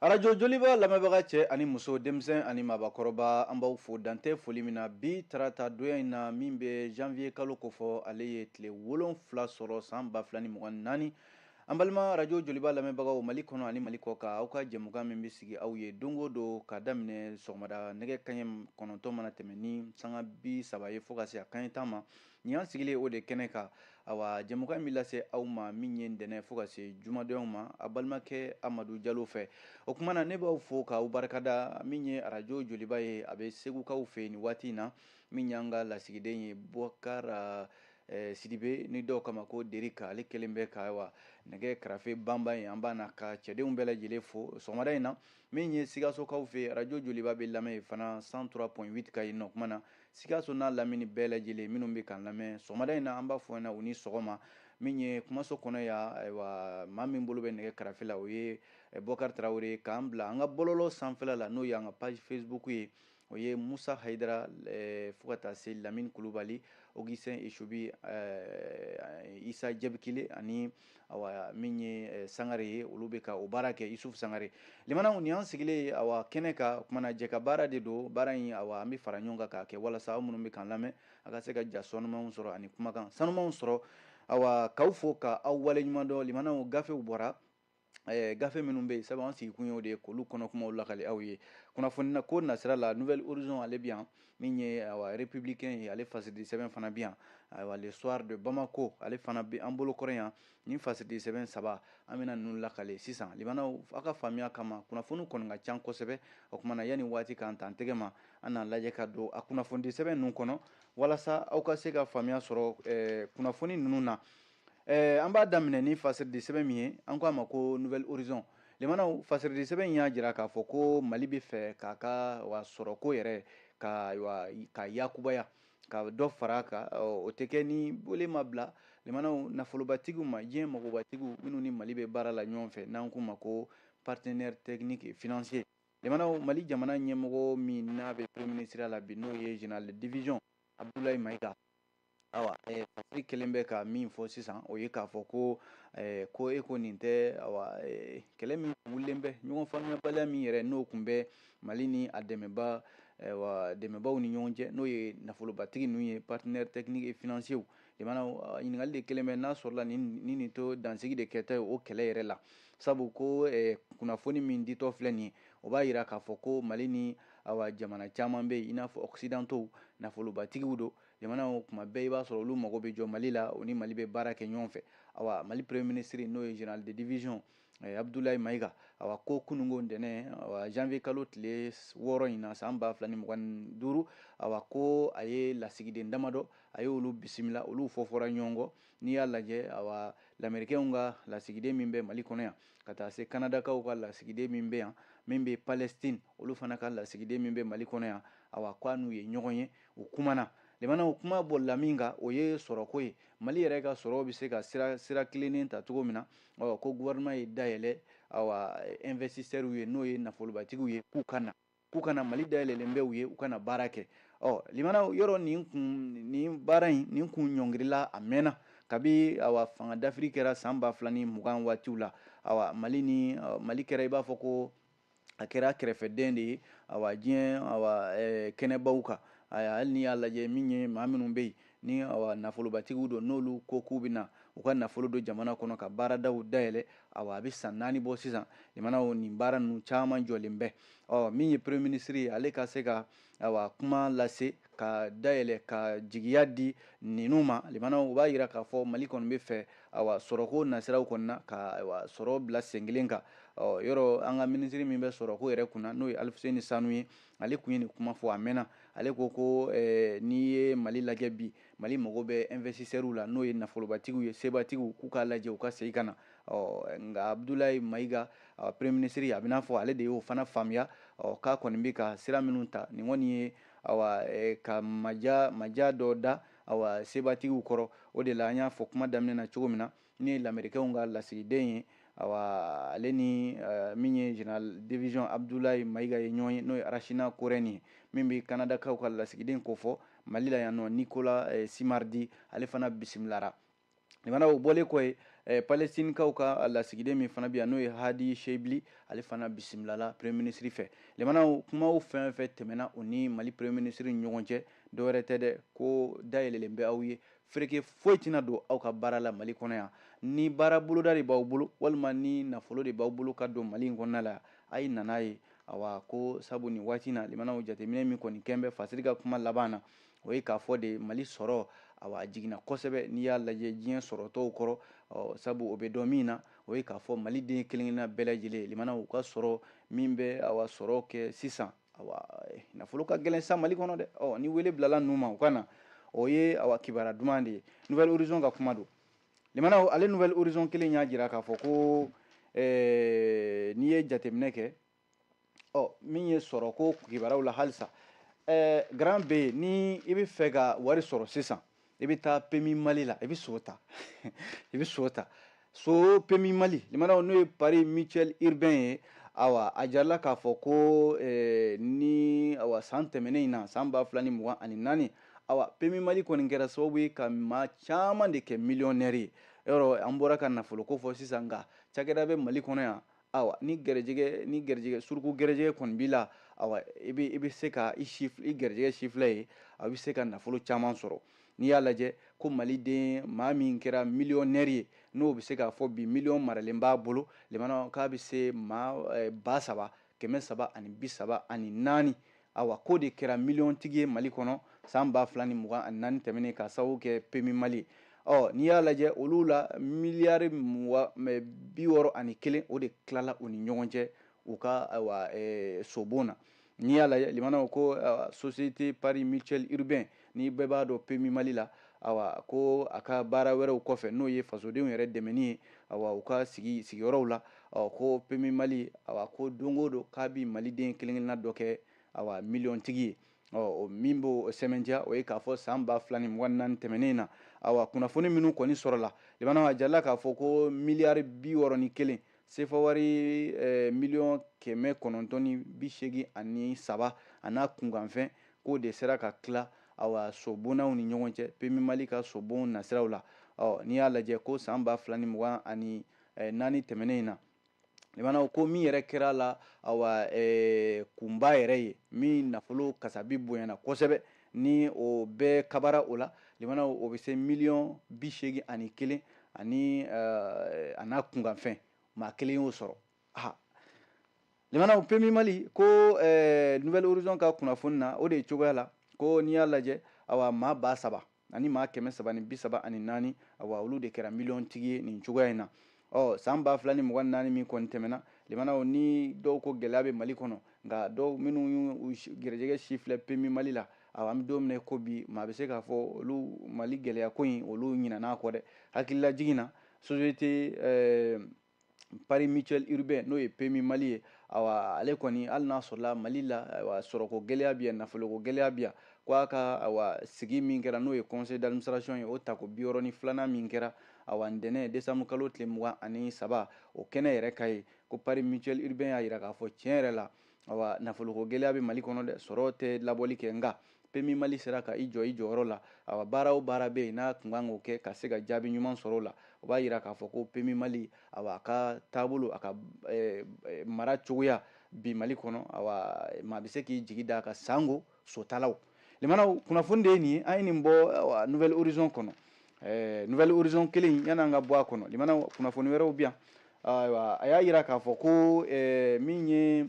arajo joliba lamɛnbaga cɛ ani muso denmisɛn ani mabakɔrɔba an b'aw fo dan tɛ foli min na bi tarata donya in na min bɛ janvier kalo kofɔ ale ye tile wolonfila sɔrɔ san ba fila ni mugan naani an balima radio joliba lamɛnbagaw mali kɔnɔ ani mali kɔkan aw ka jɛmukan min bɛ sigi aw ye don o don ka daminɛ sɔgɔmada nɛgɛ kanɲɛ kɔnɔntɔn mana tɛmɛ ni sanga bi saba ye fo ka se a kanɲɛ tan ma nin y'an sigilen o de kɛnɛ kan awa jɛmukan in bɛ lase aw ma min ye ntɛnɛn fo ka se jumadonyaw ma a balimakɛ amadu jalo fɛ o kuma na ne b'aw fo k'aw barika da min ye arajo joliba ye a bɛ segukaw fɛ nin waati in na min y'an ka lasigiden ye bɔkari Eh, sidibe ni dɔw k'a ma ko derika ale kelen bɛ ka awa nɛgɛ karafe banba yen an b'a n'a ka cɛdenw bɛɛ lajɛlen fo sɔgɔmada in na min ye sikasokaw fɛ arajo joliba bɛ lamɛn yen fana cent trois point huit kan yen o kuma na sikaso n'a lamini bɛɛ lajɛlen minnu bɛ k'an lamɛn sɔgɔmada in na an b'a fɔ na u ni sɔgɔma min ye kumaso kɔnɔ yan ayiwa maa min bolo bɛ nɛgɛ karafe la o ye eh, bɔkari tarawele k'an bila an ka bɔlɔlɔ sanfɛla la n'o y'an ka page facebook ye o ye musa hayidara fo ka taa se lamini kulubali augustin esubi isa jabikile ani awa min ye sangare ye olu bɛ ka o baara kɛ isufu sangare limanaw nin y'an sigilen ye awa kɛnɛ kan o kuma na jɛkabaara de don baara in awa an bɛ fara ɲɔgɔn kan k'a kɛ walasa aw minnu bɛ k'an lamɛn a ka se ka ja sanumanw sɔrɔ ani kumakan sanumanw sɔrɔ awa k'aw fo k'aw waleɲuman dɔn limanaw gafew bɔra Eh, gafe minnu bɛ yen sabu an sigikun y'o de ye k'olu kɔnɔ kumaw lakali aw ye kunnafoniko nasira la nouvel horizon ale bɛ yan min ye awa républicain ye ale fasiridi sɛbɛn fana bɛ yan ayiwa le soir de Bamako ale fana bɛ an bolo kɔrɔ yan nin fasiridi sɛbɛn saba an bɛna ninnu lakali sisan limanaw aw ka faamuya kama kunnafoni kɔni ka ca kosɛbɛ o kuma na yanni waati k'an ta an tɛgɛ ma an n'a lajɛ ka don a kunnafonidi sɛbɛn ninnu kɔnɔ walasa aw ka se ka faamuya sɔrɔ eh, kunnafoni ninnu na eh, an b'a daminɛ ni fasiridi sɛbɛn min ye an k'a ma ko nouvel horizon limanaw fasiridi sɛbɛn in y'a jira k'a fɔ ko mali bɛ fɛ k'a ka awa sɔrɔko yɛrɛ ka wa ka yakubaya ka dɔ fara a kan o tɛ kɛ ni wele ma bila limanaw nafolobatigiw ma diɲɛ magobatigiw minnu ni mali bɛ baara la ɲɔgɔn fɛ n'an k'u ma ko partenaire technique et financier limanaw mali jamana ɲɛmɔgɔ min n'a bɛ premier ministriya la bi n'o ye général de division abdoulaye mayiga Fasiri kelen bɛ ka min fɔ sisan o ye k'a fɔ ko ko e ko nin tɛ kɛlɛ min wulilen bɛ ɲɔgɔn faamuyabaliya min yɛrɛ n'o tun bɛ mali ni a dɛmɛbaa dɛmɛbaaw ni ɲɔgɔn cɛ n'o ye nafolobatigi ninnu ye partenaire technique et financier limanaw ɲininkali de kelen bɛ n'a sɔrɔla ni nin to dansigi de kɛtɔ ye o kɛlɛ yɛrɛ la sabu ko kunnafoni min ditɔ filɛ nin ye o b'a jira k'a fɔ ko mali ni awa jamana caman bɛ yen i n'a fɔ occidentaux nafolobatigiw don jamanaw kuma bɛɛ i b'a sɔrɔ olu mago bɛ jɔ mali la o ni mali bɛ baara kɛ ɲɔgɔn fɛ awa mali premier ministre n'o ye général de division eh, abdoulaye mayiga awa ko kununko ntɛnɛn awa janvier kalo tile wɔɔrɔ in na san ba fila ni mugan ni duuru awa ko a ye lasigiden damadɔ a ye olu bisimila olu fɔfɔra ɲɔgɔn kɔ n'i y'a lajɛ awa lamerikɛnw ka lasigiden min bɛ mali kɔnɔ yan ka taa se kanadakaw ka lasigiden min bɛ yan min bɛ palestine olu fana ka lasigiden min bɛ mali kɔnɔ yan awa k'a n'u ye ɲɔgɔn ye u kumana limanaw kuma bolila min kan o ye sɔrɔko ye mali yɛrɛ ka sɔrɔw bɛ se ka sira tilennen ta cogo min na awa ko gouvernement ye da yɛlɛ awa investisseurs ye n'o ye nafolobatigiw ye k'u ka na k'u ka na mali da yɛlɛlen bɛ u ye u ka na baara kɛ ɔ limana yɔrɔ nin baara in nin kun ɲɔngirila a mɛnna kabi awa fanga dafiri kɛra san ba fila ni mugan waatiw la awa mali kɛra i b'a fɔ ko a kɛra kɛrɛfɛden de ye awa diɲɛ awa eh, kɛnɛbaw kan hali n'i y'a lajɛ min ye maa minnu bɛ yen ni awa nafolobatigiw don n'olu ko k'u bɛna u ka nafolo don jamana kɔnɔ ka baaradaw dayɛlɛ awa a bɛ san naani bɔ sisan limanaw nin baara ninnu caman jɔlen bɛ ɔ min ye premier ministre ye ale ka se ka awa kuma lase ka da yɛlɛ ka jigiya di ninnu ma limana u b'a yira k'a fɔ mali kɔni b'a fɛ awa sɔrɔko nasiraw kɔni na ka awa sɔrɔ bila sen kelen kan ɔ yɔrɔ an ka minisiri min bɛ sɔrɔko yɛrɛ kunna n'o ye alifuseni sanu ye ale kun ye nin kuma fɔ a mɛnna ale ko ko eh, n'i ye mali lajɛ bi mali mago bɛ investisseurs la n'o ye nafolobatigiw ye sebatigiw k'u k'a lajɛ u ka segin ka na ɔ nka abudulayi mayiga premier ministre a b'i n'a fɔ ale de y'o fana faamuya ɔ k'a kɔni bɛ ka sira minnu ta nin kɔni ye awa ka maja dɔ da awa sebatigiw kɔrɔ o de la an y'a fɔ kuma daminɛ na cogo min na min ye lamerikɛnw ka lasigiden ye awa ale ni min ye général division abudulayi mayiga ye ɲɔgɔn ye n'o ye arasina korɛni ye min bɛ kanadakaw ka lasigiden kofɔ mali la yan ɔ nikola simaridi ale fana bisimilara Limanaw o bɔlen kɔ ye eh, palestinekaw ka lasigiden min fana bɛ yan n'o ye hadi shebli ale fana bisimilala premier ministre fɛ limanaw kumaw fɛn fɛn tɛmɛna o ni mali premier ministre ni ɲɔgɔn cɛ dɔwɛrɛ tɛ dɛ ko da yɛlɛlen bɛ aw ye fereke foyi tɛna don aw ka baara la mali kɔnɔ yan ni baara boloda de b'aw bolo walima ni nafolo de b'aw bolo ka don mali in kɔnɔna la a ye na n'a ye awa ko sabu nin waati na limanaw jateminɛ min kɔni kɛlen bɛ fasiri ka kuma laban na o ye k'a fɔ de mali sɔrɔ a jiginna kosɛbɛ n'i y'a lajɛ diɲɛ sɔrɔ tɔw kɔrɔ sabu o bɛ dɔn min na o ye k'a fɔ mali den kelenkelenna bɛɛ lajɛlen limana u ka sɔrɔ min bɛ awa sɔrɔ kɛ sisan nafolo ka gɛlɛn sa mali kɔnɔ dɛ ni wele bilala ninnu ma u ka na o ye a kibaru duman de ye nouvel horizon ka kuma don limana ale nouvel horizon kelen y'a jira k'a fɔ ko n'i ye jateminɛ kɛ ɔ min ye sɔrɔ ko kibaruyaw la halisa ɛɛ garan bɛ yen ni i b'a fɛ ka wari sɔrɔ sisan i bɛ taa pemi mali la i bɛ so ta i bɛ so ta so pemi mali limanaw n'o ye pari mutuel urbain ye awa a jirala k'a fɔ ko eh, ni awa san tɛmɛnen in na san ba fila ni mugan ani naani awa pemi mali kɔni kɛra sababu ye ka maa caman de kɛ miliyɔnɛri ye yɔrɔ an bɔra ka nafoloko fɔ sisan nka cakɛda bɛ mali kɔnɔ yan awa ni garijɛgɛ ni garijɛgɛ suruku garijɛgɛ kɔni b'i la awa i bɛ i bɛ se ka i si i garijɛgɛ sifilɛ yen a bɛ se ka nafolo caman sɔrɔ n'i y'a lajɛ ko maliden maa min kɛra miliyɔnɛri ye n'o bɛ se k'a fɔ bi miliyɔn maralen b'a bolo limana k'a bɛ se maa ba saba kɛmɛ saba ani bi saba ani naani awa k'o de kɛra miliyɔntigi ye mali kɔnɔ san ba fila ni mugan ani naani tɛmɛnen k'a sababu kɛ pemi mali ye ɔ n'i y'a lajɛ olu la miliyari mugan bi wɔɔrɔ ani kelen o de tilala u ni ɲɔgɔn cɛ u ka awa sobon na n'i y'a lajɛ limanaw ko société pari mutuel urbain ni bɛɛ b'a dɔn pemi mali la awa ko a ka baara wɛrɛw kɔfɛ n'o ye fasodenw yɛrɛ dɛmɛni ye awa u ka sigi sigiyɔrɔw la ɔ ko pemi mali awa ko don go don k'a bi maliden kelenkelenna dɔ kɛ awa miliyɔntigi ye ɔ min b'o sɛmɛntiya o ye k'a fɔ san ba fila ni mugan naani tɛmɛnen na awa kunnafoni minnu kɔni sɔrɔla limana a jirala k'a fɔ ko miliyari bi wɔɔrɔ ni kelen Sefa wari eh, miliyɔn kɛmɛ kɔnɔntɔn ni bi seegin ani saba a n'a kunkanfɛn k'o de sera ka tila awa sobonnaw ni ɲɔgɔn cɛ pemi mali ka sobon nasiraw la ɔ n'i y'a lajɛ ko san ba fila ni mugan ani eh, naani tɛmɛnen in na limanaw ko min yɛrɛ kɛra la awa eh, kunba yɛrɛ ye min nafolo kasabi bonyana kosɛbɛ ni o bɛɛ kabara o la limana o bɛ se miliyɔn bi seegin ani kelen ani eh, a n'a kunkanfɛn maa kelen y'o sɔrɔ ha limana pemi mali ko eh, nouvel horizon ka kunnafoni na o de ye cogoya la ko n'i y'a lajɛ awa maa ba saba ani maa kɛmɛ saba ni bi saba ani naani awa olu de kɛra miliyɔntigi ye nin cogoya in na ɔ san ba fila ni mugan naani min kɔni tɛmɛna limanaw ni dɔw ko gɛlɛya bɛ mali kɔnɔ nka dɔw minnu y'u gɛrɛjɛgɛ sifilɛ pemi mali la awa an bɛ don min na ko bi maa bɛ se k'a fɔ olu mali gɛlɛya ko in olu ɲinan'a kɔ dɛ hakililajigin na société eh, pari mutuel urbain n'o ye pemi mali ye awa ale kɔni hali n'a sɔrɔla mali la awa sɔrɔko gɛlɛya bɛ yan nafoloko gɛlɛya bɛ yan ko a ka awa sigi min kɛra n'o ye conseil d'administration ye o tako bi wɔɔrɔ ni filanan min kɛra Awa ntɛnɛn desanbu kalo tile mugan ani saba o kɛnɛ yɛrɛ kan yen ko pari mutuel urbain y'a jira k'a fɔ tiɲɛ yɛrɛ la awa nafoloko gɛlɛya bɛ mali kɔnɔ dɛ sɔrɔ tɛ labɔli kɛ nka PMU mali sera ka i jɔ i jɔyɔrɔ la awa baara o baara bɛ yen n'a tun kan k'o kɛ ka se ka jaabi ɲuman sɔrɔ o la o b'a jira k'a fɔ ko PMU mali awa a ka taabolo a ka eh, eh, mara cogoya bi mali kɔnɔ awa maa bɛ se k'i jigi da a kan sango sotalaw limanaw kunnafoni de ye nin ye an ye nin bɔ nouvel horizon kɔnɔ eh, nouvel horizon kelen yani an ka bɔ a kɔnɔ limanaw kunnafoni wɛrɛw bi yan ayiwa a y'a yira k'a fɔ ko eh, min ye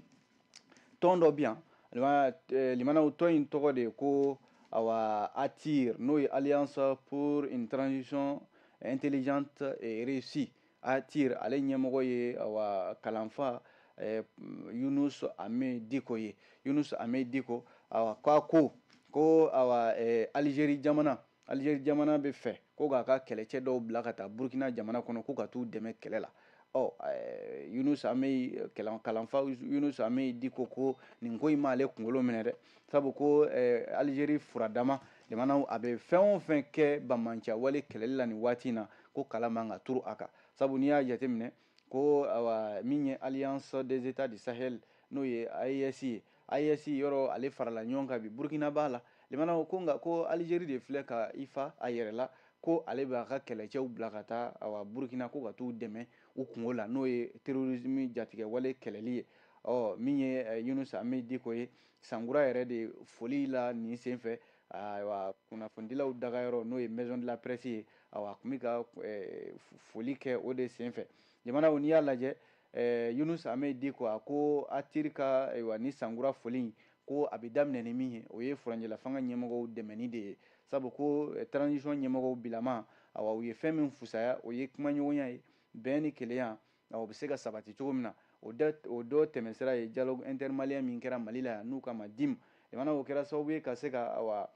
tɔn dɔ bi yan eh, limanaw tɔn in tɔgɔ de ye ko awa ATIR n'o ye alliance pour une transition intelligente et réussie ATIR ale ɲɛmɔgɔ ye awa kalanfa eh, Yunus Amey Diko ye Yunus Amey Diko awa k'a ko ko awa eh, Algérie jamana Algérie jamana b'a fɛ ko k'a ka kɛlɛcɛ dɔw bila ka taa Burkina jamana kɔnɔ ko ka t'u dɛmɛ kɛlɛ la ɔ eh, Yunus Amey kalanfa Yunus Amey Diko ko nin ko in m'ale kunkolo minɛ dɛ sabu ko eh, Algérie furadama Limanaw a bɛ fɛn o fɛn kɛ banbaanciya wale kɛlɛli la nin waati in na ko kala man ka turu a kan sabu n'i y'a jateminɛ ko awa, min ye alliance des états du sahel n'o ye AES ye AES yɔrɔ ale farala ɲɔgɔn kan bi Burkina b'a la limanaw ko nka ko Algérie de filɛ ka i fa a yɛrɛ la ko ale b'a ka kɛlɛcɛw bila ka taa awa Burkina ko ka t'u dɛmɛ u kunko la n'o ye terrorisme jatigɛwale kɛlɛli ye ɔ min ye eh, Yunus Amey Diko ye sankura yɛrɛ de foli la nin sen fɛ ayiwa kunnafonidilaw dagayɔrɔ n'o ye maison de la presse ye awa a tun bɛ ka eh, foli kɛ o de sen fɛ jamanaw n'i y'a lajɛ eh, yunus amey diko a ko ATIR ka ayiwa ni sankura foli in ko a bɛ daminɛ ni min ye o ye furancɛla fanga ɲɛmɔgɔw dɛmɛni de ye sabu ko eh, transition ɲɛmɔgɔw bilama awa u ye fɛn min fusaya o ye kumaɲɔgɔnya ye bɛn ni kelenya o bɛ se ka sabati cogo min na o dɔ tɛmɛsira ye dialogue intermalien min kɛra Mali la yan n'u k'a ma DIM jamana o kɛra sababu ye ka se ka awa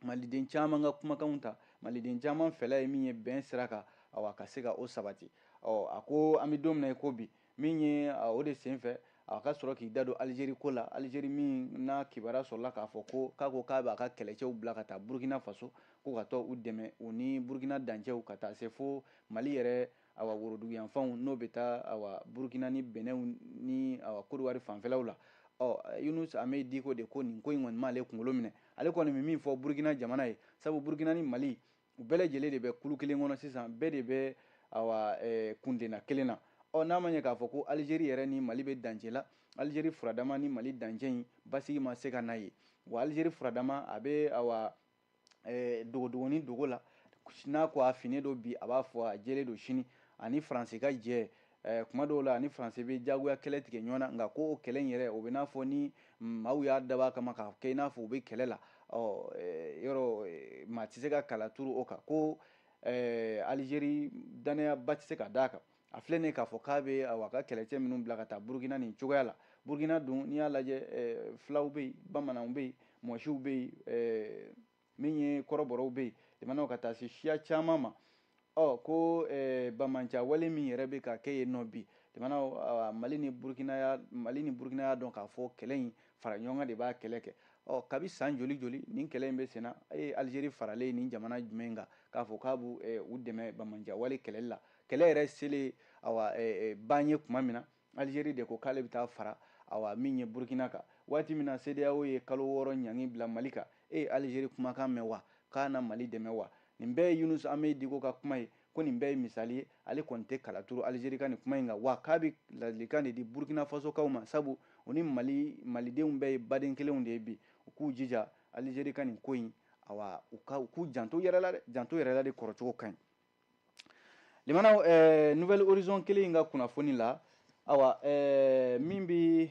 maliden caman ka kumakanw ta maliden caman fɛla ye min ye bɛn sira kan awa ka se ka o sabati ɔ a ko an bɛ don min na i ko bi min ye o de senfɛ a ka sɔrɔ k'i da don Algérie ko la Algérie min n'a kibaruya sɔrɔla k'a fɔ ko k'a ko k'a b'a ka kɛlɛcɛw bila ka taa Burkina Faso ko ka t'u dɛmɛ u ni Burkina dancɛw ka taa se fo Mali yɛrɛ awa woroduguyanfanw n'o bɛ taa awa burukina ni benɛn ni awa kodiwari fanfɛlaw la ɔ yunus amey diko de ko nin ko in kɔni m'ale kunkolo minɛ ale kɔni bɛ min fɔ burukina jamana ye sabu burukina ni mali u bɛɛ lajɛlen de bɛ kulu kelen kɔnɔ sisan bɛɛ de bɛ awa kuntilenna kelen na ɔ n'a ma ɲɛ k'a fɔ ko alizeri yɛrɛ ni mali bɛ dancɛ la alizeri furadama ni mali dancɛ in basigi ma se ka na yen wa alizeri furadama a bɛ awa eh, dogodogoni dogo la n'a ko a finnen don bi a b'a fɔ a jɛlen don sini a ni faransi ka jɛ eh, kuma dɔw la a ni faransi bɛ jagoya kɛlɛ tigɛ ɲɔgɔn na nka ko o kɛlɛ in yɛrɛ o bɛ n'a fɔ ni maaw y'a dabɔ a kama k'a kɛ i n'a fɔ u bɛ kɛlɛ la ɔ eh, yɔrɔ eh, maa tɛ se ka kala turu o kan ko alizeri danayaba tɛ se ka d'a kan a filɛ nin k'a fɔ k'a bɛ a ka kɛlɛcɛ minnu bila ka taa burukina nin cogoya la burukina dun n'i y'a lajɛ eh, fulaw bɛ yen bamananw bɛ yen mɔsiw bɛ yen eh, min ye kɔrɔbɔrɔw bɛ yen jamanaw ka taa se siya caman ma ɔ ko eh, banbaanciya wale min yɛrɛ bɛ ka kɛ yen nɔ bi jamanaw mali ni burukina y'a dɔn k'a fɔ kɛlɛ in fara ɲɔgɔn kan de b'a kɛlɛ kɛ ɔ kabi san joli joli nin kɛlɛ in bɛ senna a ye alizeri faralen ye jamana jumɛn kan k'a fɔ k'a b'u dɛmɛ banbaanciya wale kɛlɛli la kɛlɛ yɛrɛ selen awa ban ye tuma min na alizeri de ko k'ale bɛ taa fara awa min ye burukina kan waati min na sedeyawo ye kalo wɔɔrɔ ɲangi bila mali kan e ye alizeri kumakan mɛn wa k'a na mali dɛmɛ wa nin bɛɛ ye yunus amey diko ka kuma ye ko nin bɛɛ ye misali ye ale kɔni tɛ kala turu alizeri ka nin kuma in kan wa k'a bɛ ladilikan de di burukina fasokaw ma sabu u ni mali malidenw bɛɛ ye baden kelenw de ye bi u k'u jija alizeri ka nin ko in awa u k'u janto yɛrɛ la dɛ janto yɛrɛ la de kɔrɔcogo ka ɲi lamɛnnaw eh, nouvel horizon kelen in ka kunnafoni la awa eh, min bɛ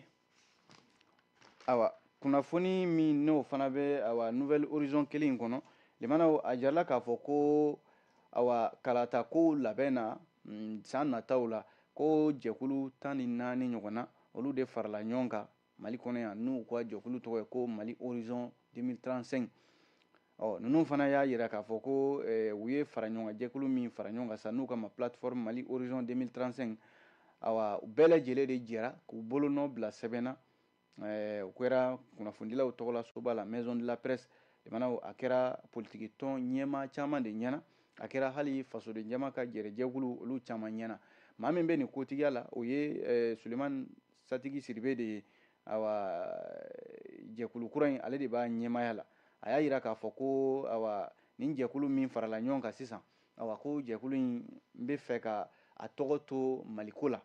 awa kunnafoni min n'o fana bɛ awa nouvel horizon kelen in kɔnɔ lamɛnnaw a jirala k'a fɔ ko awa kalata kow labɛn na mm, san nataw la ko jɛkulu tan ni naani ɲɔgɔn na olu de farala ɲɔgɔn kan Mali kɔnɔ yan n'u ka jɛkulu tɔgɔ ye ko Mali Horizon 2035 ɔ ninnu fana y'a jira k'a fɔ ko eh, u ye fara ɲɔgɔn kan jɛkulu min fara ɲɔgɔn kan sa n'u ko a ma plateforme Mali Horizon 2035 awa u bɛɛ lajɛlen de jɛra k'u bolonɔ bila sɛbɛn na eh, o kɛra kunnafonidilaw tɔgɔla soba la maison de la presse jamanaw a kɛra politiki tɔn ɲɛmaa caman de ɲɛna a kɛra hali fasoden jama ka jɛrɛjɛkulu olu caman ɲɛna maa min bɛ nin kotigiya la o ye eh, suleman Satigi Sidibe de ye awa jɛkulu kura in ale de b'a ɲɛmaaya la a y'a jira k'a fɔ ko awa nin jɛkulu min farala ɲɔgɔn kan sisan awa ko jɛkulu in b'a fɛ ka a tɔgɔ to maliko la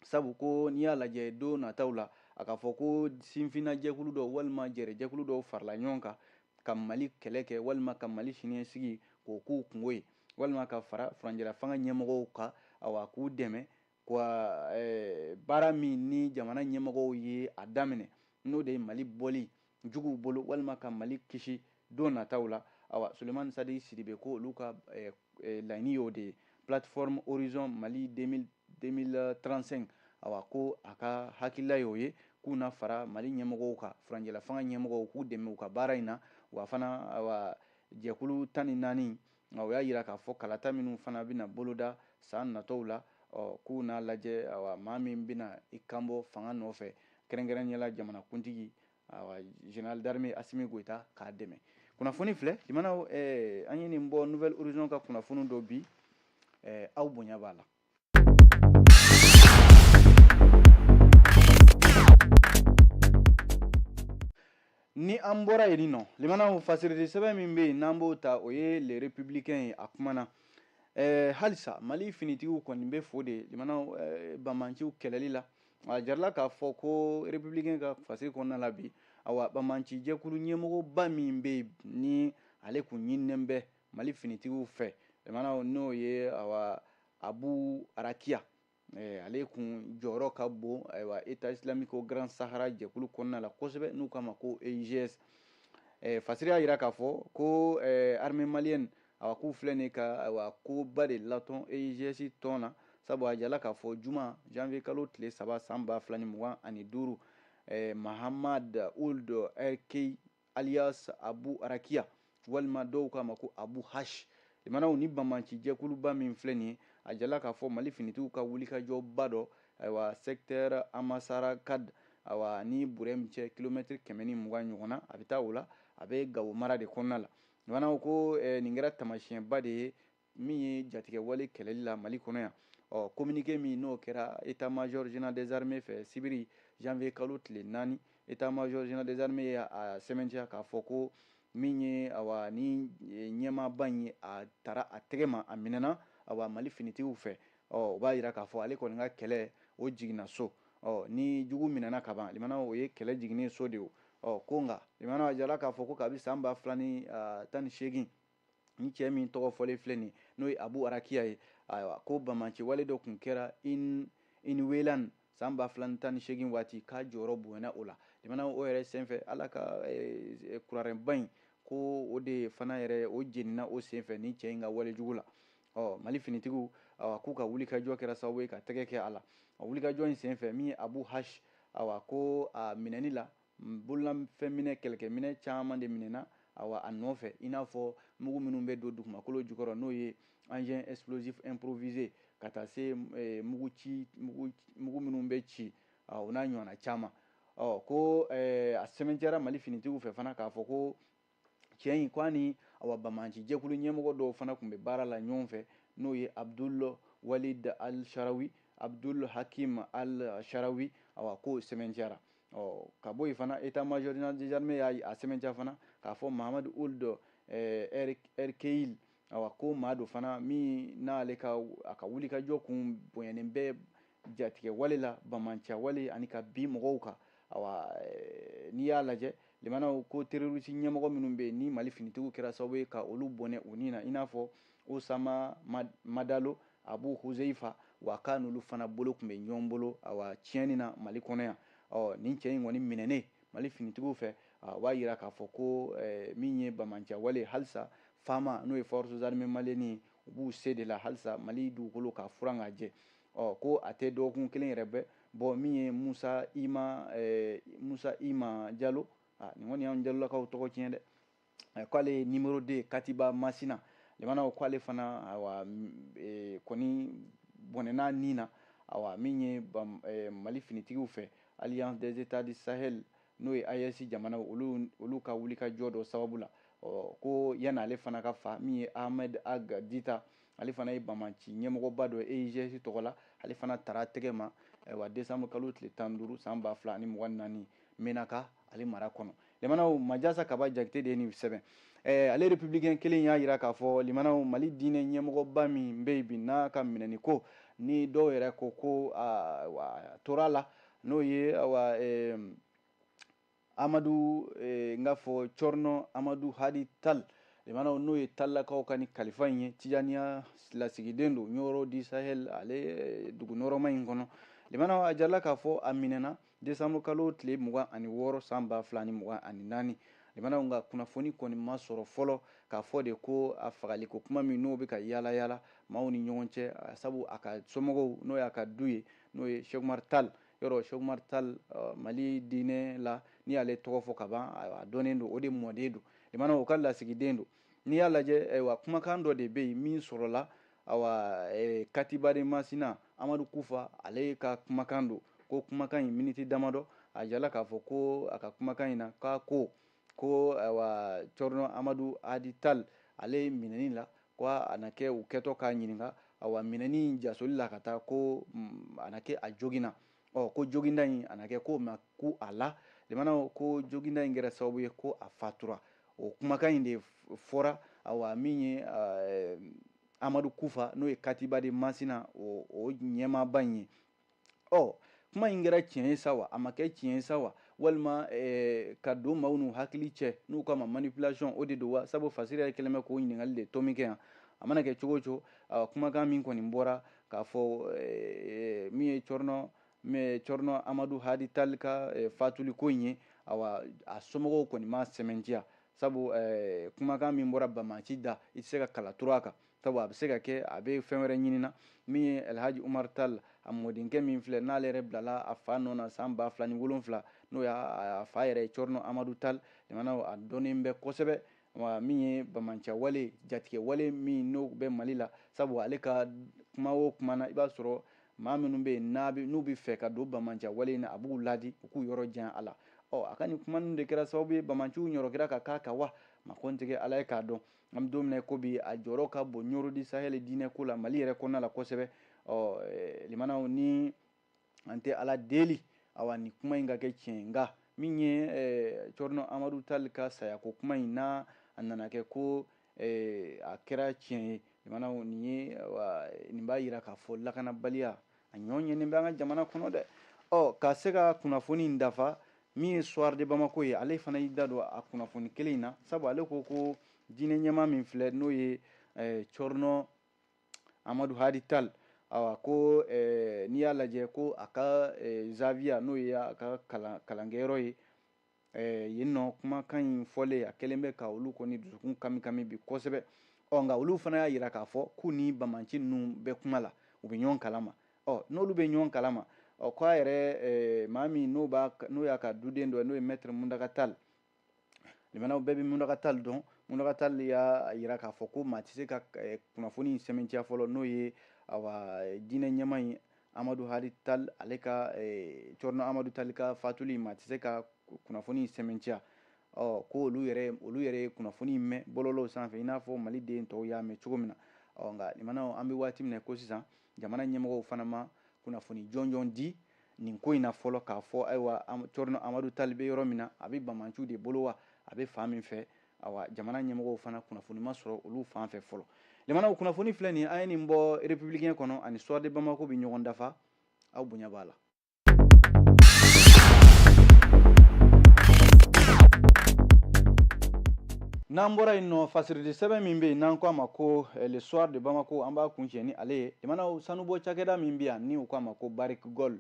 sabu ko n'i y'a lajɛ don nataw la a ka fɔ ko sifinna jɛkulu dɔw walima jɛrɛjɛkulu dɔw farala ɲɔgɔn kan ka mali kɛlɛ kɛ walima ka mali siniɲɛsigi k'o k'u kunko ye walima ka fara furancɛlafanga ɲɛmɔgɔw kan awa k'u dɛmɛ wa eh, baara min ni jamana ɲɛmɔgɔw ye a daminɛ n'o de ye mali bɔli juguw bolo walima ka mali kisi don nataw la awa sulemani satigi sidibe ko olu ka eh, eh, laɲini y'o de ye plateforme horizon mali 2035 awa ko a ka hakilila y'o ye k'u na fara mali ɲɛmɔgɔw kan furanjɛlafanga ɲɛmɔgɔw k'u dɛmɛ u ka baara in na wa fana awa jɛkulu tan ni naani nka o y'a jira k'a fɔ kalata minnu fana bɛna boloda san natɔw la k'u n'a lajɛ maa min bɛna i kanbɔ fanga nɔfɛ kɛrɛnkɛrɛnnenya la jamanakuntigi général d'armée asimi goita k'a dɛmɛ kunnafoni filɛ lamɛnnaw an ye nin bɔ nouvel horizon ka kunnafoni dɔ bi aw bonya b'a la ni an bɔra yen nɔ lamɛnnaw fasirili sɛbɛn min bɛ yen n'an b'o ta o ye le républicain ye a kumana ɛɛ halisa mali finitigiw kɔni bɛ fo de lamɛnnaw ɛɛ bamanciw kɛlɛli la a jirala k'a fɔ ko républicain ka fasiri kɔnɔna la bi awa bamanci jɛkulu ɲɛmɔgɔba min bɛ yen ni ale kun ɲininen bɛ mali finitigiw fɛ lamɛnnaw n'o ye awa abu arakiya eh, ale kun jɔyɔrɔ ka bon ayiwa état islamique au grand sahara jɛkulu kɔnɔna la kosɛbɛ n'u k'a ma ko eigs eh, fasiri y'a yira k'a fɔ ko eh, armée malienne awa k'u filɛ nin ka ayiwa koba de latɔn eigs tɔn na sabu a jirala k'a fɔ juma janvier kalo tile saba san ba fila ni mugan ani duuru eh, mahamad ould erkehile alias abu arakiya walima dɔw k'a ma ko abu hash lamɛnnaw ni banbanci jɛkuluba min filɛ nin ye a jirala k'a fɔ mali finitigiw ka wulikajɔba dɔ ayiwa secteur amasarakad awa ni burɛm cɛ kilomɛtiri kɛmɛ ni mugan ɲɔgɔn na a bɛ taa o la a bɛ gawo mara de kɔnɔna la lamɛnnaw ko eh, nin kɛra tamasiyɛnba de ye min ye jatigɛwale kɛlɛli la mali kɔnɔ yan ɔ kominike min n'o kɛra état major général des armées fɛ sibiri janvier kalo tile naani état major général des armées ye a sɛmɛntiya k'a fɔ ko min ye awa ni e, ɲɛmaaba in ye a tara a tɛgɛ ma a minɛna awa mali finitigiw fɛ ɔ o b'a yira k'a fɔ ale kɔni ka kɛlɛ o jiginna so ɔ ni jugu minɛna ka ban lamɛnnaw o ye kɛlɛ jiginnen so de ye ɔ ko nka lamɛnnaw a jirala k'a fɔ ko kabi san ba fila ni tan ni seegin ni cɛ min tɔgɔ fɔlen filɛ nin n'o ye abu arakiya ye ayiwa ko bamaci wale dɔ tun kɛra inwelan san ba fila tan ni seegin waati k'a jɔyɔrɔ bonyana o la lamɛnnaw o yɛrɛ senfɛ ala ka eh, eh, kuranɛba in ko o de fana yɛrɛ o jeninna o senfɛ ni cɛ in ka walejugu la ɔ mali finitigiw awa k'u ka wulikajɔ kɛra sababu ye ka tɛgɛ kɛ a la wulikajɔ in senfɛ min ye abu hash awa ko a minɛni la bololafɛn minɛn kɛlɛkɛminɛn caman de minɛna awa a nɔfɛ i n'a fɔ mugu minnu bɛ don dugumakolo jukɔrɔ n'o ye engin explosif improvisé ka taa se eh, mugu ci mugu minnu bɛ ci o n'a ɲɔgɔnna caman ɔ ko eh, a sɛbɛntiyara mali finitigiw fɛ fana k'a fɔ ko cɛ in k'a ni awa bamanci jɛkulu ɲɛmɔgɔ dɔw fana tun bɛ baara la ɲɔgɔn fɛ n'o ye abdul walid al sharawi abdul hakim al sharawi awa k'o sɛbɛntiyara ɔ ka bɔ yen fana état-major général des armées y'a a sɛbɛntiya fana k'a fɔ mahamad ould erkehile Awa ko maa don fana min n'ale ka a ka wulikajɔ kun bonyanen bɛ jatigɛ wale la bamanciya wale ani ka bin mɔgɔw kan eh, n'i y'a lajɛ lamɛnnaw ko terorisi ɲɛmɔgɔ minnu bɛ ni mali finitigiw kɛra sababu ye ka olu bɔnɛ u ni na i n'a fɔ usama madalo abu huzeyifa awa k'a n'olu fana bolo tun bɛ ɲɔgɔn bolo a tiɲɛni na mali kɔnɔ yan ɔ nin cɛ in kɔni minɛnen mali finitigiw fɛ o b'a jira k'a fɔ ko min ye bamanciya wale halisa fama n'o ye forces armées maliennes u b'u se de la halisa mali dugukolo k'a furan k'a jɛ ɔ ko a tɛ dɔgɔkun kelen yɛrɛ bɛɛ bɔ min ye musa ima musa ima jalo nin kɔni y'an jalolakaw tɔgɔ tiɲɛ dɛ eh, k'ale ye numéro deux katiba masina lamɛnnaw ko ale fana awa eh, kɔni bɔnɛna ni na awa min ye eh, mali finitigiw fɛ alliance des états du sahel n'o ye AES jamanaw olu ka wulikajɔ dɔ sababu la ɔ ko yanni ale fana ka fa min ye ahmed ag dita ale fana ye bamanci ɲɛmɔgɔba dɔ ye EIGS tɔgɔ la ale fana tara tɛgɛ ma awa décembre kalo tile tan duuru san ba fila ani mugan naani menaka ale mara kɔnɔ lamɛnnaw majasa kaba jakite de ye nin sɛbɛn eh, ale républicain kelen y'a jira k'a fɔ lamɛnnaw mali diinɛ ɲɛmɔgɔba min bɛ yen bi n'a ka minɛni ko ni dɔw yɛrɛ ko ko ah, a tora a la n'o ye awa eh, amadu eh, n k'a fɔ cɔrɔnɔ amadu hadi tal lamɛnnaw n'o ye tallakaw ka ni kalifa in ye tijaniya lasigiden don ɲɔrɔ du sahel ale eh, dugu nɔrɔma in kɔnɔ lamɛnnaw a jirala k'a fɔ a minɛna Décembre kalo tile 26 san 2024 lamɛnnaw nka kunnafoni kɔni ma sɔrɔ fɔlɔ k'a fɔ de ko a fagaliko kuma min n'o bɛ ka yaala yaala maaw ni ɲɔgɔn cɛ sabu a ka somɔgɔw n'o y'a ka du ye n'o ye Cheikh Oumar Tall yɔrɔ Cheikh Oumar Tall Mali diinɛ la n'i y'ale tɔgɔ fɔ ka ban a dɔnnen don o de mɔden don lamɛnnaw o ka lasigiden don n'i y'a lajɛ ayiwa kumakan dɔ de bɛ yen min sɔrɔla awa eh, katiba de masina amadu kufa ale ka kumakan don ko kumakan in miniti damadɔ a jirala k'a fɔ ko a ka kumakan in na k'a ko ko awa cɔrɔnɔ amadu hadi tal ale minɛni la ko a na kɛ u kɛtɔ k'a ɲininka awa minɛni jasoli la ka taa ko mm, a na kɛ a joginna ɔ ko joginda in a na kɛ k'o ma ku a la limanaw ko joginda in kɛra sababu ye ko a fatura o kumakan in de fɔra awa min ye eh, amadu kufa n'o ye katiba de masina o, o ɲɛmaaba in ye ɔ kuma in kɛra tiɲɛ ye sa wa a ma kɛ tiɲɛ ye sa wa walima eh, ka don maaw n'u hakili cɛ n'u k'a ma manipulation o de don wa sabu fasiri yɛrɛ kɛlen bɛ k'o ɲininkali de tomi kɛ yan a mana kɛ cogo o cogo kumakan min kɔni bɔra k'a fɔ eh, min ye cɔrɔnɔ cɔrɔnɔ amadu hadi tali ka eh, fatuli ko in ye awa a somɔgɔw kɔni m'a sɛmɛntiya sabu eh, kumakan min bɔra bamanci da i tɛ se ka kala turu a kan sabu a bɛ se ka kɛ a bɛ fɛn wɛrɛ ɲinina min ye alhaji umar tal a mɔdenkɛ min filɛ n'ale yɛrɛ bilala a fa nɔ na san ba fila ni wolonfila n'o y'a fa yɛrɛ ye cɔrɔnɔ amadu tal jamana a dɔnnen bɛ kosɛbɛ wa min ye bamanciyawale jatigɛwale min n'o bɛ mali la sabu ale ka kuma o kuma na i b'a sɔrɔ maa minnu bɛ yen n'u bɛ fɛ ka don bamanciyawale in na a b'u ladi u k'u yɔrɔ jan a la ɔ a ka nin kuma ninnu de kɛra sababu ye bamanciw ɲɔrɔkira ka k'a kan wa makotigi ala ye k'a dɔn an bɛ don min na ko bi a jɔyɔrɔ ka bon ɲoro di sahɛli diinɛ ko la mali yɛrɛ kɔnɔna la kosɛbɛ ɔ limanaw ni an tɛ ala deli awa nin kuma in ka kɛ tiɲɛ nka min ye cɔrɔnɔ amadu tali ka saya ko kuma in n'a a nana kɛ ko a kɛra tiɲɛ ye limanaw nin ye nin b'a jira k'a fɔ lakanabaliya a ɲɔgɔn ye nin bɛ an ka jamana kɔnɔ dɛ ɔ ka se ka kunnafoni in dafa min ye soir de bamako ye ale fana y'i da don a kunnafoni kelen in na sabu ale ko ko diinɛ ɲɛmaa min filɛ n'o ye cɔrɔnɔ amadu hadi tal awa ko eh, n'i y'a lajɛ ko a ka eh, zawiya n'o ye a ka kalan, kalankɛyɔrɔ ye eh, yen nɔ kumakan in fɔlen a kɛlen bɛ ka olu kɔni dusukun kami kami bi kosɛbɛ ɔ nka olu fana y'a jira k'a fɔ k'u ni bamanci ninnu bɛ kuma la u bɛ ɲɔgɔn kalama ɔ n'olu bɛ ɲɔgɔn kalama ɔ k'a yɛrɛ eh, maa min n'o y'a ka duden dɔ ye n'o ye mɛtiri muntaga tal limanaw bɛɛ bɛ muntaga tali dɔn muntaga tali y'a jira k'a fɔ ko maa tɛ se ka eh, kunnafoni in sɛmɛntiya fɔlɔ n'o ye awa eh, diinɛ ɲɛmaa in amadu hadi tali ale ka eh, cɔrɔnɔ amadu tali ka fatuli maa tɛ se ka kunnafoni in sɛmɛntiya ɔ ko olu yɛrɛ olu yɛrɛ ye kunnafoni in mɛn bɔlɔlɔw sanfɛ i n'a fɔ maliden tɔw y'a mɛn cogo min na ɔ nka limanaw an bɛ waati min na ko sisan jamana ɲɛmɔgɔw fana ma kunnafoni jɔnjɔn di nin ko in na fɔlɔ k'a fɔ ayiwa cɔrɔnɔ amadu tali bɛ yɔrɔ min na a bɛ bamanciw de bolo wa a bɛ fan min fɛ ayiwa jamana ɲɛmɔgɔw fana kunnafoni ma sɔrɔ olu fan fɛ fɔlɔ limanaw kunnafoni filɛ nin an ye nin bɔ républicain kɔnɔ ani soir de bamako bɛ ɲɔgɔn dafa aw bonya b'a la n'an bɔra yen nɔ fasirili sɛbɛn min bɛ yen n'an k'a ma ko eh, le soir de bamako an b'a kuncɛ ni ale ye limanaw sanubɔ cakɛda min bɛ yan ni u k'a ma ko Barrick Gold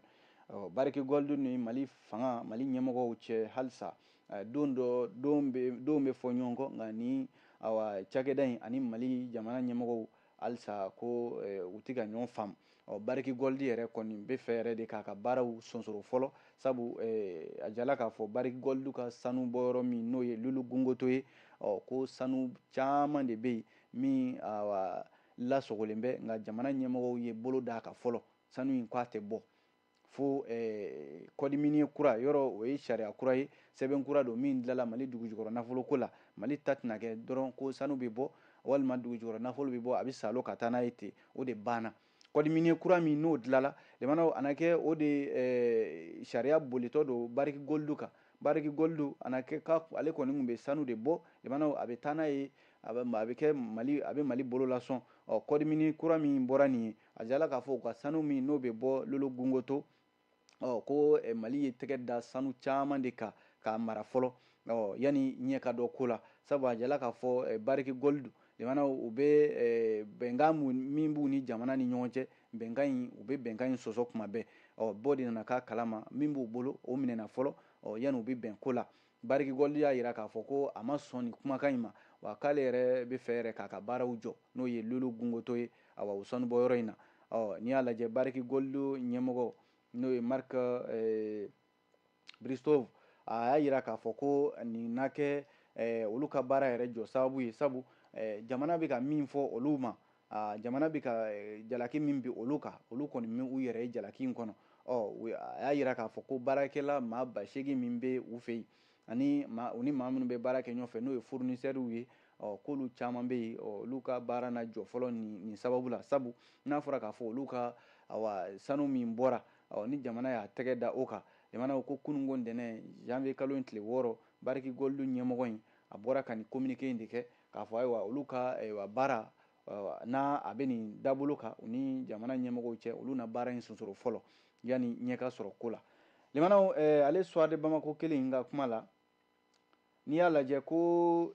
Barrick Gold dun ni mali fanga mali ɲɛmɔgɔw cɛ halisa eh, don dɔ don bɛ don bɛ fɔ ɲɔgɔn kɔ nka ni awa cakɛda in ani mali jamana ɲɛmɔgɔw halisa ko eh, u tɛ ka ɲɔgɔn faamu ɔ Barrick Gold yɛrɛ kɔni bɛ fɛ yɛrɛ de k'a ka baaraw sonsoro fɔlɔ sabu eh, a jala k'a fɔ Barrick Gold ka sanubɔyɔrɔ min n'o ye lulu gungoto ye ɔ ko sanu caman de bɛ yen min awa lasogolen bɛ nka jamana ɲɛmɔgɔw ye bolo d'a kan fɔlɔ sanu in ko a tɛ bɔ fo eh, code minier kura yɔrɔ o ye sariya kura ye sɛbɛn kura don min dilala mali dugujukɔrɔ nafolo ko la mali ta tɛna kɛ dɔrɔn ko sanu bɛ bɔ walima dugujukɔrɔ nafolo bɛ bɔ a bɛ salo ka taa n'a ye ten o de banna code minier kura min n'o dilala lemanaw a na kɛ o de eh, sariya bolitɔ don Barrick Gold kan Barrick Gold a na kɛ ka ale kɔni tun bɛ sanu de bɔ lemanaw a bɛ taa n'a ye a bɛ kɛ mali a bɛ mali bolo lasɔn ɔ code minier kura min bɔra nin ye a jala k'a fɔ u ka sanu min n'o bɛ bɔ lolo gungoto ɔ ko eh, mali ye tɛgɛ da sanu caman de kan k'a mara fɔlɔ ɔ yanni ɲɛ ka dɔ ko la sabu a jala k'a fɔ eh, Barrick Gold limanaw u bɛ eh, bɛnkan min b'u ni jamana ni ɲɔgɔn cɛ bɛnkan in u bɛ bɛnkan in sɔsɔ kuma bɛɛ ɔ bɔ de nana k'a kalama min b'u bolo o minɛna fɔlɔ ɔ yanni u bɛ bɛn ko la Barrick Gold y'a yira k'a fɔ ko a ma sɔn nin kumakan in ma, wa k'ale yɛrɛ bɛ fɛ yɛrɛ k'a ka baaraw jɔ, n'o ye Lulu Gungoto ye, awa, o sanubɔyɔrɔ in na. Ɔ, n'i y'a lajɛ, Barrick Gold ɲɛmɔgɔ, n'o ye Mark Bristow, a y'a yira k'a fɔ ko nin na kɛ olu ka baara yɛrɛ jɔ sababu ye, sabu jamana bɛ ka min fɔ olu ma, aa jamana bɛ ka eh, jalaki min bin olu kan olu kɔni m'u yɛrɛ ye jalaki in kɔnɔ ɔ a y'a yira k'a fɔ ko baarakɛla maa ba seegin min bɛ u fɛ yen ani maa u ni maa minnu bɛ baara kɛ ɲɔgɔn fɛ n'o ye fournisseurw ye ɔ k'olu caman bɛ yen olu ka baara na jɔ fɔlɔ nin nin sababu la sabu n'a fɔra k'a fɔ olu ka awa sanu min bɔra ɔ ni jamana y'a tɛgɛ da o kan limana ko kununko ntɛnɛn janvier kalo in tile wɔɔrɔ Barrick Gold ɲɛmɔgɔ in a bɔra ka nin communiqué in de kɛ k'a fɔ ayiwa olu ka ayiwa baara n'a a bɛ nin dabolo kan u ni jamana ɲɛmɔgɔw cɛ olu na baara in sonsoro fɔlɔ yanni ɲɛ ka sɔrɔ ko la limanaw ale soir de bamako kelen in ka kuma la n'i y'a lajɛ ko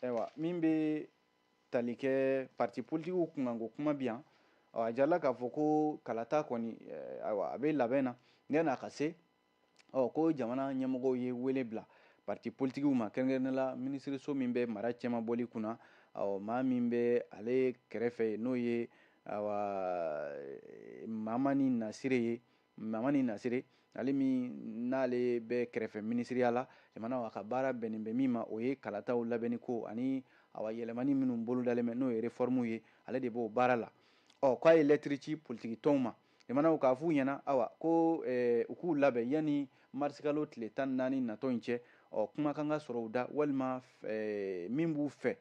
ayiwa min bɛ tali kɛ parti politikiw kunkanko kuma bi yan a jirala k'a fɔ ko kalata kɔni ayiwa a bɛ labɛn na n n'a ka se ɔ ko jamana ɲɛmɔgɔw ye wele bila pati politigiw ma kɛrɛnkɛrɛnnenya la minisiriso min bɛ mara cɛmabɔli kunna ɔ maa min bɛ ale kɛrɛfɛ yen n'o ye mamani nasire ye mamani nasire ale min n'ale bɛ kɛrɛfɛ minisiriya la jamana a ka baara bɛnnen bɛ min ma o ye kalataw labɛnni ko ani awa yɛlɛmani minnu bolodalen bɛ n'o ye refɔrmuw ye ale de b'o baara la ɔ k'a ye lɛtiri ci politigi tɔnw ma jamanaw k'a f'u ɲɛna awa ko eh, u k'u labɛn yanni marisikalo tile tan ni naani natɔ in cɛ ɔ kuma kan ka sɔrɔ u da walima eh, min b'u fɛ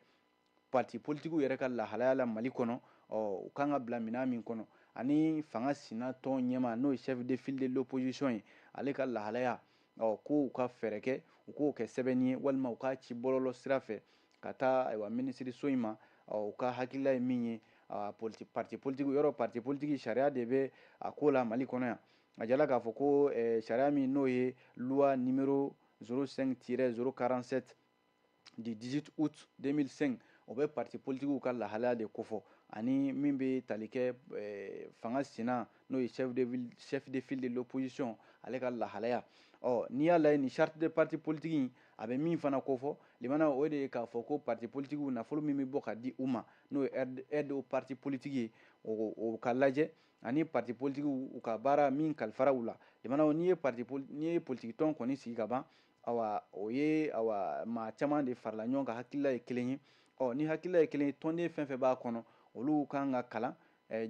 parti politikiw yɛrɛ ka lahalaya la mali kɔnɔ ɔ u kan ka bila minɛn min kɔnɔ ani fanga sina tɔn ɲɛmaa n'o ye chef de file de l'opposition ye ale ka lahalaya ɔ ko u ka fɛɛrɛ kɛ u k'o kɛ sɛbɛnni ye walima u k'a ci bɔlɔlɔ sira fɛ ka taa ayiwa minisiriso in ma u ka hakilila ye min ye politi parti politiki yɔrɔ parti politiki sariya de bɛ a ko la mali kɔnɔ yan a jala k'a fɔ ko sariya min n'o ye luwa nimero 05 tirɛ 047 du 18 août 2005 o bɛ parti politigiw ka lahalaya de kofɔ ani min bɛ tali kɛ eh, fanga sina n'o ye chef de file de l'opposition ale ka lahalaya ɔ n'i y'a lajɛ nin charte de parti politique in a bɛ min fana kofɔ limana o de ye k'a fɔ ko parti politigiw nafolo min bɛ bɔ ka di u ma n'o ye aide aux partis politiques ye o o ka lajɛ ani parti politigiw u ka baara min kalifara u la limana n'i ye parti n'i ye politiki tɔn kɔni sigi ka ban Ayiwa o ye maa caman de farala ɲɔgɔn kan hakilila ye kelen ye ɔ ni hakilila ye kelen ye tɔnden fɛn fɛn b'a kɔnɔ olu kan ka kalan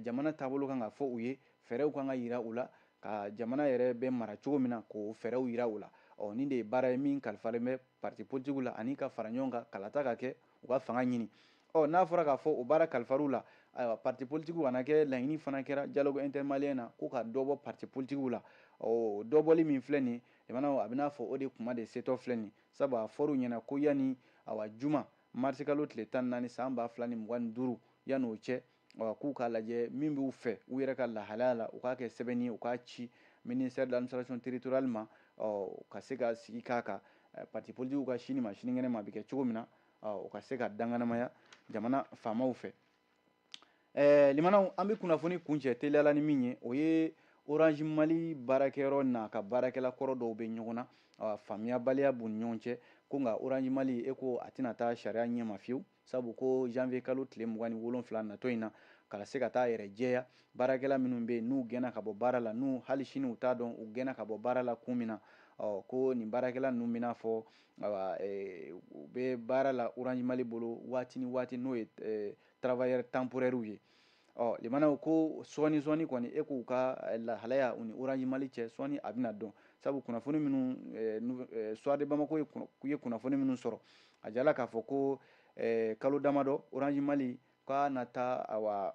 jamana taabolo kan ka fɔ u ye fɛɛrɛw kan ka yira u la ka jamana yɛrɛ bɛ mara cogo min na k'o fɛɛrɛw yira u la ɔ nin de ye baara ye min kalifalen bɛ pati politigiw la ani ka fara ɲɔgɔn kan kalata ka kɛ u ka fanga ɲini ɔ n'a fɔra k'a fɔ o baara kalifar'u la ayiwa pati politigiw kana kɛ laɲini fana kɛra dialogue inter-malien na ko ka dɔ bɔ pati politigiw la ɔ dɔbɔli min filɛ nin jamana a bɛ n'a fɔ o de kuma de setɔ filɛ nin sabu a fɔr'u ɲɛna ko yanni awa juma marisikalo tile tan ni naani san ba fila ni mugan ni duuru yanni o cɛ awa k'u k'a lajɛ min b'u fɛ u yɛrɛ ka lahalaya la u k'a kɛ sɛbɛnni ye u k'a ci ministère de l'administration territoriale ma ɔ ka se ka sigi k'a kan eh, parti politikiw ka sini ma sinikɛnɛ ma a bɛ kɛ cogo min na ɔ u ka se ka danganamaya jamana faamaw fɛ ɛɛ limanaw an bɛ kunnafoni kuncɛ teliyala ni min ye o ye orange mali baarakɛyɔrɔ n'a ka baarakɛla kɔrɔ dɔw bɛ ɲɔgɔn na faamuyabaliya b'u ni ɲɔgɔn cɛ ko nka orange mali e ko a tɛna taa sariya ɲɛma fiyewu sabu ko janvier kalo tile mugan ni wolonfila natɔ in na ka se ka t'a yɛrɛ jɛya baarakɛla minnu bɛ yen n'u gɛnna ka bɔ baara la n'u hali sini u t'a dɔn u gɛnna ka bɔ baara la kun min na ko nin baarakɛla ninnu bɛna fɔ u bɛ baara la orange mali bolo waati ni waati n'o ye travailleurs temporairew ye ɔ limanaw ko sɔɔni sɔɔni kɔni e k'u ka lahalaya u ni orange mali cɛ sɔɔni a bɛna dɔn sabu kunnafoni minnu soir de bamako ye kunnafoni minnu sɔrɔ a jala k'a fɔ ko kalo damadɔ orange mali ka na taa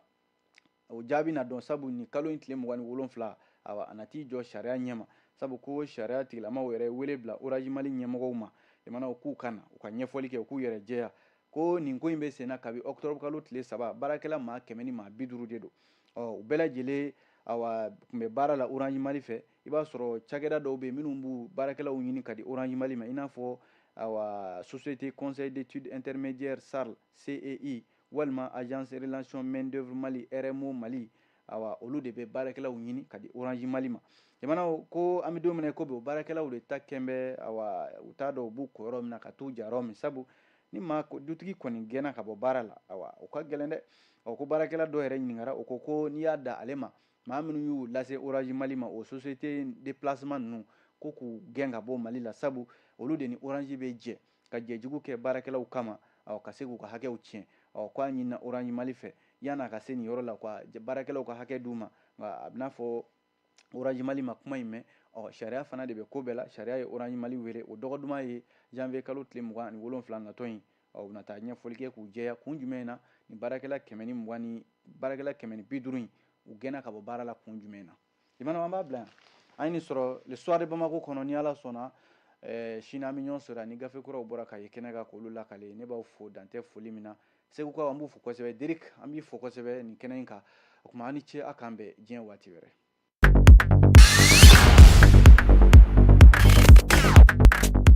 o jaabi na dɔn sabu ni kalo in tile mugan ni wolonfila awa a na t'i jɔ sariya ɲɛma sabu ko sariya tigilamaw yɛrɛ wele bila orange mali ɲɛmɔgɔw ma limanaw k'u ka na u ka ɲɛfɔli kɛ u k'u yɛrɛ jɛya ko nin ko in bɛ senna kabi ɔkutɔrɔbu kalo tile saba baarakɛla maa kɛmɛ ni maa bi duuru de don ɔ u bɛɛ lajɛlen awa tun bɛ baara la orange mali fɛ i b'a sɔrɔ cakɛda dɔw bɛ yen minnu b'u baarakɛlaw ɲini ka di orange mali ma i n'a fɔ awa société conseil d'étude intermédiaire sarl cei walima agence relation main d'œuvre mali rmo mali awa olu de bɛ baarakɛlaw ɲini ka di orange mali ma jamanaw ko an bɛ don min na ko bi o baarakɛlaw de ta kɛn bɛ awa u t'a dɔn u b'u ko yɔrɔ min na ka t'u ja yɔrɔ min sabu ni dutigi kɔni gɛnna ka bɔ baara la awa o ka gɛlɛn dɛ ɔ ko baarakɛla dɔ yɛrɛ ɲininkara o ko ko n'i y'a da ale ma maa minnu y'u lase orange mali ma o société de placement ninnu ko k'u gɛn ka bɔ mali la sabu olu de ni orange bɛ jɛ ka jɛ jugu kɛ baarakɛlaw kama ka se k'u ka hakɛw tiɲɛ ɔ k'a ɲinina orange mali fɛ yan'a ka se nin yɔrɔ la ka baarakɛlaw ka hakɛ d'u ma nka a bɛ n'a fɔ orange mali ma kuma in mɛn ɔ sariya fana de bɛ ko bɛɛ la sariya ye orange mali wele o dɔgɔ duman ye janvier kalo tile mugan ni wolonfila natɔ in u na taa ɲɛfɔli kɛ k'u jɛya kun jumɛn na ni baarakɛla kɛmɛ ni baarakɛla kɛmɛ ni bi duuru in u gɛnna ka bɔ baara la kun jumɛn na limanaw an b'a bila yan an ye nin sɔrɔ le soir de bamako kɔnɔ ni ala sɔnna eh, sini an bɛ ɲɔgɔn sɔrɔ ni gafe kuraw bɔra ka ye kɛnɛ kan k'olu lakale ne b'aw fo dan tɛ foli min na segukaw an b'u fo kosɛbɛ derik an b'i fo kosɛbɛ nin kɛnɛ in kan o tuma aw ni ce a k'an bɛn diɲɛ waati wɛrɛ